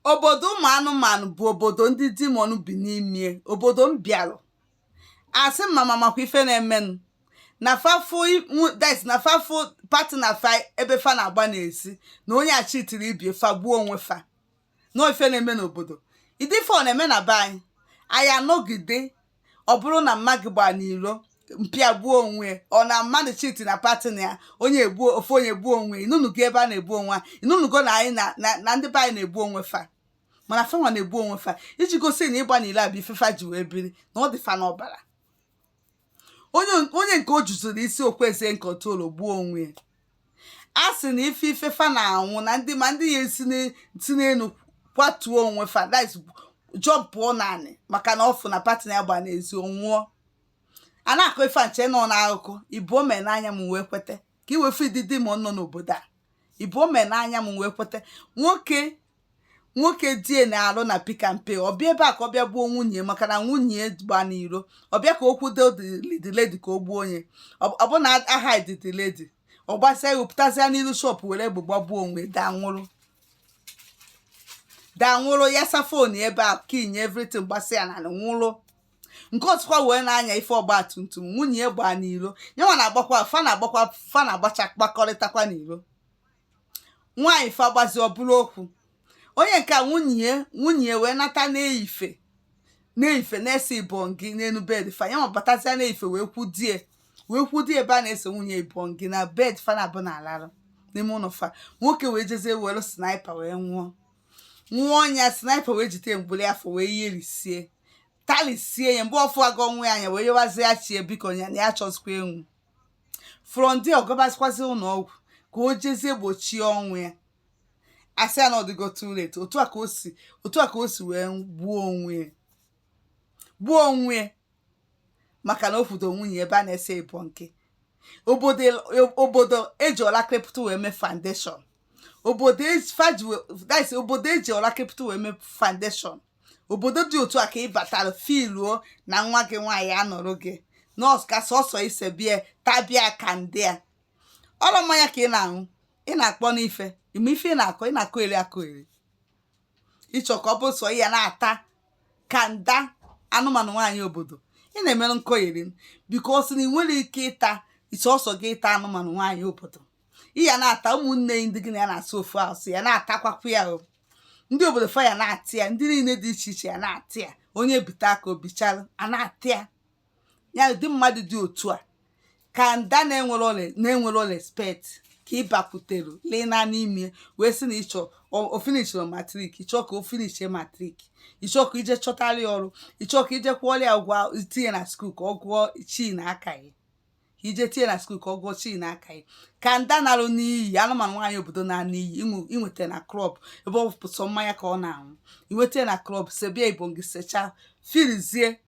obodo ụmụ anụmanụ bụ obodo ndị demon bi n'ime obodo m bịalụ asị m mama makwa ife na-emenụ na fa fụ that na fa fụ partner fa ebe fa na-agba n'ezi na onye achitiri ibie fa gbuo onwe fa na ife na-eme n'obodo ụdị ife ọ na-eme na be anyị anyị anọgide ọ bụrụ na mma gị gbaa n'iro mpa gị gbuo onwe or na mmadụ cheat na partner ya onye egbuo ofu onye gbuo onwe ị nụnụgo ebe a na-egbu onwe ị nụnụgo na anyị na ndị be anyị na-egbu onwe fa mana fa nwa na-egbu onwe fa iji gosi na ịgba n'iro bụ ife fa ji wee biri na ọ dị fa n'ọbara onye nke o juziri isi o kwezi control gbuo onwe ya a sị na ife ife fa na-anwụ na ndị ma ndị ya esi n'e- si n'elu kwatuo onwe fa that is jọmpụọ naanị maka na ọ fụ na partner ya gba n'ezi ọ nwụọ a na-akọ ife a m che na ọ n'akụkọ ibu o mee n'anya m wee kweta ka ị wee fụ ịdị di m nọ n'obodo a ibu o mee n'anya m wee kweta nwoke nwoke dị ya na-alụ na pick n pay ọ bịa ebe a ka ọ bịa gbuo nwunye maka na nwunye gba n'iro ọ bịa ka o kwudo the lady ka o gbuo onye ọ bụ na ahụdị the lady ọ gbasịa ya pụtazịa n'ilu shop were egbe gbagbuo onwe daa nwụrụ daa nwụrụ yasa phone ebe a ka inye everything gbasịa na nwụrụ nke ọzọkwa wee na-anya ife ọgba tum tum nwunye ya gbaa n'iro nya nwa na-agbakwa fa na-agbakwa fa na-agbacha kpakọrịtakwa n'iro nwaanyị fa gbazi ọ bụrụ okwu onye nke a nwunye ya nwunye ya wee nata na-eyife na-eyife na-ese ibongi n'elu bed fa ya nwabatazie na-eyife wee kwudie wee kwudie ebe a na-ese nwunye ibongi na bed fa naabụ na-alarụ n'ime ụlọ fa nwoke wee jezie were sniper wee ṅụọ ṅụọ ọ ṅụa sniper wee jide mgbịrị afọ wee yerisie talisie ya mgbe ọ fụ aga ọnwụ ya anya wee yọwazie ya chie biko ya na ya achọzikwa ịnwụ from there ọ gabazikwazi ụlọ ọgwụ ka o jezie gbochie ọnwụ ya a sị ya na ọ dịgo too late otu a ka o si otu a ka o si wee gbuo onwe ya gbuo onwe ya maka na ọ fụdo nwunye ebe a na-ese ibongi obodo obodo eji ọla krepụta wee mee foundation obodo eji faji wee- that is, obodo eji ọla krepụta wee mee foundation obodo dị otu a ka ị batara feeluo na nwa gị nwaanyị anọrọ gị nọọsụ ka sọsọ ise bịa tabịa kanda ọrụ mmanya ka ị na-aṅụ ị na-akpọ n'ife ị ma ife ị na-akọ ị na-akọyeri akọyeri ị chọ ka ọ bụ sọ ị ya na-ata kanda anụmanụ nwaanyị obodo ị na-emere nkọgheri because na ị nwere ike ịta sọsọ gị ịta anụmanụ nwaanyị obodo ị ya na-ata ụmụnne gị ndị gị na ya na-asụ ofu asụ ya na-atakwakwa ya o ndị obodo fa ya na-atị ya ndị niile dị iche iche ya na-atị ya onye bite aka o bichalụ a na-atị ya ụdị mmadụ dị otu a ka nda na-enwero respect ka ị bakwutere lee na n'ime wee sị na ị chọ o finishiro matrik ị chọ ka o finishie matrik ị chọ ka i je chọtara ya ọrụ ị chọ ka i je kwụọrọ ya ụgwọ itinye na skuul ka ọ gụọ chii n'aka ya ka i je tinye na skuul ka ọ gụọ chii n'aka ya ka nda narụ n'iyi anụmanụ nwaanyị obodo na n'iyi i nweta na klọb ebe ọ bụ sọ mmanya ka ọ na-aṅụ i nweta na klọb sebia ibongi sechaa firizie